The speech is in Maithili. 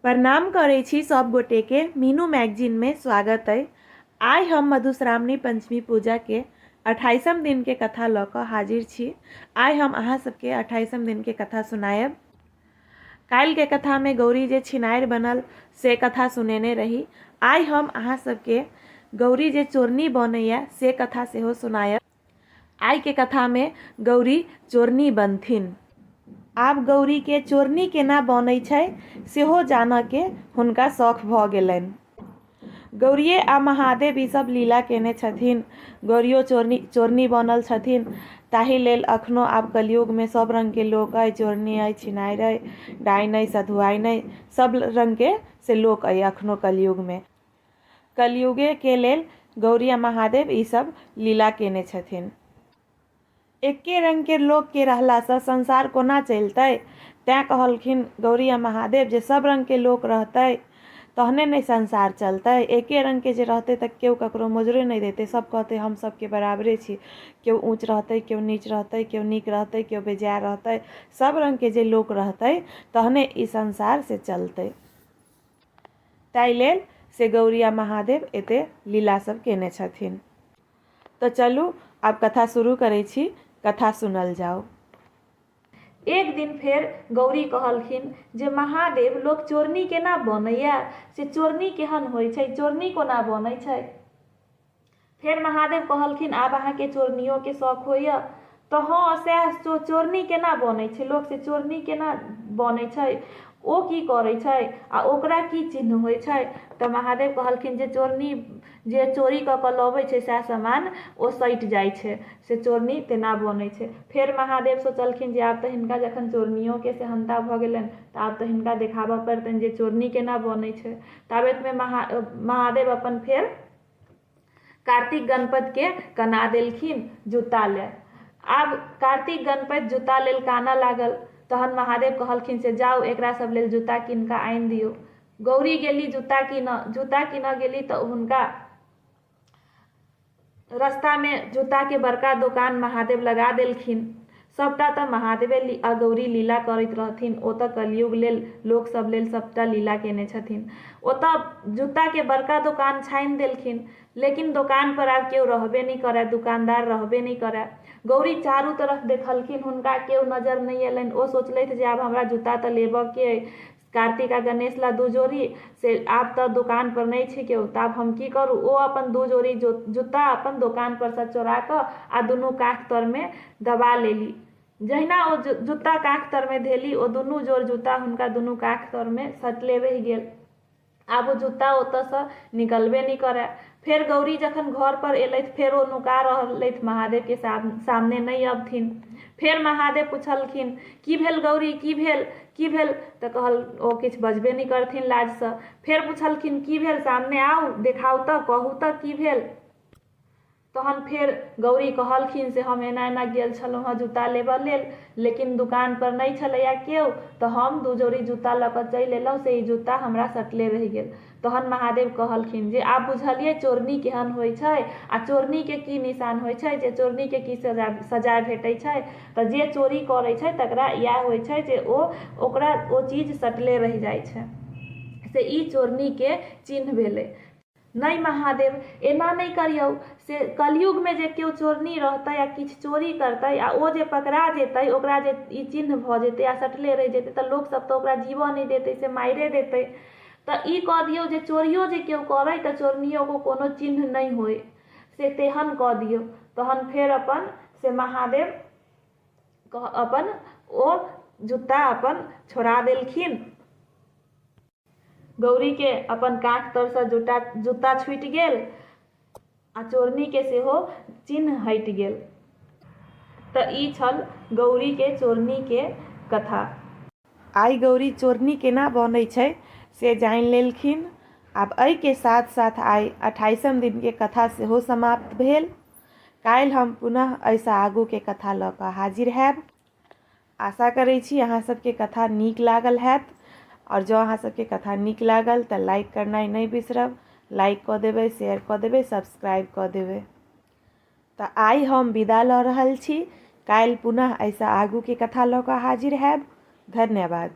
प्रणाम करै छी सब गोटे के मीनू मैगजीन में स्वागत अइ आइ हम मधुश्रावणी पंचमी पूजा के अठाईसम दिन के कथा लऽ कऽ हाजिर छी आइ हम अहाँ सबके अठाईसम दिन के कथा सुनायब काल्हि के कथा में गौरी जे छिनारि बनल से कथा सुनेने रही आइ हम अहाँ सबके गौरी जे चोरनी बनैया से कथा सेहो सुनायब आइ के कथा मे गौरी चोरनी बनथिन। आब गौरी के चोरनी केना बनै छै सेहो जानऽ के हुनका सौख भऽ गेलैन। गौरिये आ महादेव ई सब लीला केने छथिन। गौरियो चोरनी चोरनी बनल छथिन। ताहि लेल अखनो आब कलयुग मे सब रंग के लोक अइ। चोरनी अइ, छिनाइर अइ, डाइन अइ, सधुआइन अइ। सब रंग के से लोक अइ अखनो कलयुग मे। कलयुगे के लेल गौरी आ महादेव ई सब लीला केने छथिन। एक्के रंग केर लोक के रहला सँ संसार कोना चलितै? तैं कहलखिन गौरी आ महादेव जे सब रंग के लोक रहतै तहने ने संसार चलतै। एक्के रंग के जे रहतै त केओ ककरो मोजरे नहि देतै। सब कहतै हम सब के बराबरे छी। केओ ऊँच रहतै, केओ नीच रहतै, केओ नीक रहतै, केओ बेजाए रहतै। सब रंग के जे लोक रहतै तहने ई संसार से चलतै। ताहि लेल से गौरी आ महादेव एते लीला सभ केने छथिन तऽ चलु आब कथा शुरू करै छी कथा सुनल जाउ एक दिन फेर गौरी कहलखिन जे महादेव लोक चोरनी केना बनैए से चोरनी केहन होइ छै चोरनी कोना बनै छै फेर महादेव कहलखिन आब अहाँके चोरनियोके शौक होइए तऽ हँ सएह चो चोरनी केना बनै छै लोक से चोरनी केना बनै छै ओ की करै छै आ ओकरा की चिन्ह होइ छै तऽ महादेव कहलखिन जे चोरनी जे चोरी कऽ कऽ लबै छै सएह सामान ओ सटि जाइ छै से चोरनी तेना बनै छै फेर महादेव सोचलखिन जे आब तऽ हिनका जखन चोरनियोके सेहन्ता भऽ गेलनि तऽ आब तऽ हिनका देखाबऽ पड़तनि जे चोरनी केना बनै छै ताबेतमे महा महादेव अपन फेर कार्तिक गणपत के कना देलखिन जूता ले आब कार्तिक गणपत जूता लेल काना लागल तहन महादेव कहलखिन से जाउ एकरा सब लेल जूता कीन कऽ आनि दियौ गौरी गेली जूता कीनऽ जूता कीनऽ गेली तऽ हुनका रस्तामे जूताके बड़का दोकान महादेव लगा देलखिन सभटा तँ महादेवे आ गौरी लीला करैत रहथिन। ओ तँ कलियुग लेल, लोक सभ लेल सभटा लीला केने छथिन। ओ तँ जूताकेँ बड़का दोकान छानि देलखिन। लेकिन दोकानपर आब केओ रहबे नहि करए, दोकानदार रहबे नहि करए। गौरी चारू तरफ देखलखिन। हुनका केओ नजर नहि एलनि। ओ सोचलथि जे आब हमरा जूता तँ लेबएकेँ अइ। कार्तिक आ गणेश ला दू जोड़ी से आब तऽ दोकान पर नहि छै केओ तऽ आब हम की करू ओ अपन दू जोड़ी जूता अपन दोकान पर सँ चोरा कऽ आ दुनू काख तर मे दबा लेली जहिना ओ जूता काख तर मे धेली ओ दुनू जोड़ जूता हुनका दुनू काख तर मे सटले रहि गेल आब ओ जूता ओतऽसँ निकलबे नहि करए फेर गौरी जखन घरपर एलथि फेर ओ नुका रहलथि महादेवके सामने नहि अबथिन फेर महादेव पुछलखिन की भेल गौरी की भेल की भेल तऽ कहल ओ किछु बजबे नहि करथिन लाजसँ फेर पुछलखिन की भेल सामने आउ देखाउ तऽ कहू तऽ की भेल तहन फेर गौरी कहलखिन से हम एना एना गेल छलहुँ हँ जूता लेबऽ लेल लेकिन दुकान पर नहि छलैया केओ तऽ हम दू जोड़ी जूता लऽ कऽ चलि अयलहुँ से ई जूता हमरा सटले रहि गेल तहन महादेव कहलखिन जे आब बुझलियै चोरनी केहन होइत छै आ चोरनीके की निशान होइत छै जे चोरनीके की सजा सजाय भेटैत छै तऽ जे चोरी करैत छै तकरा इएह होइत छै जे ओ ओकरा ओ चीज सटले रहि जाइत छै से ई चोरनीके चिन्ह भेलै नहि महादेव एना नहि करियौ से कलयुगमे जे केओ चोरनी रहतै आ किछु चोरी करतै आ ओ जे पकड़ा जेतै ओकरा जे ई चिन्ह भऽ जेतै आ सटले रहि जेतै तऽ लोकसभ तऽ ओकरा जीबऽ नहि देतै से मारिए देतै तऽ ई कऽ दियौ जे चोरियो जे केओ करै तऽ चोरनियोके कोनो चिन्ह नहि होइ से तेहन कऽ दियौ तहन फेर अपन से महादेव अपन ओ जूता अपन छोड़ा देलखिन गौरीके अपन काँख तरसँ जूटा जूता छुटि गेल आ चोरनीके सेहो चिन्ह हटि गेल तऽ ई छल गौरीके चोरनीके कथा आइ गौरी चोरनी केना बनै छै से जानि लेलखिन आब एहिके साथ साथ आइ अठाइसम दिनके कथा सेहो समाप्त भेल काल्हि हम पुनः एहिसँ आगूके कथा लऽ कऽ हाजिर हैब आशा करै छी अहाँ सबके कथा नीक लागल हैत आओर जँ अहाँ सबके कथा नीक लागल तऽ लाइक करनाइ नहि बिसरब लाइक कऽ देबै शेयर कऽ देबै सब्सक्राइब कऽ देबै तऽ आइ हम विदा लऽ रहल छी काल्हि पुनः एहिसँ आगूके कथा लऽ कऽ हाजिर हैब धन्यवाद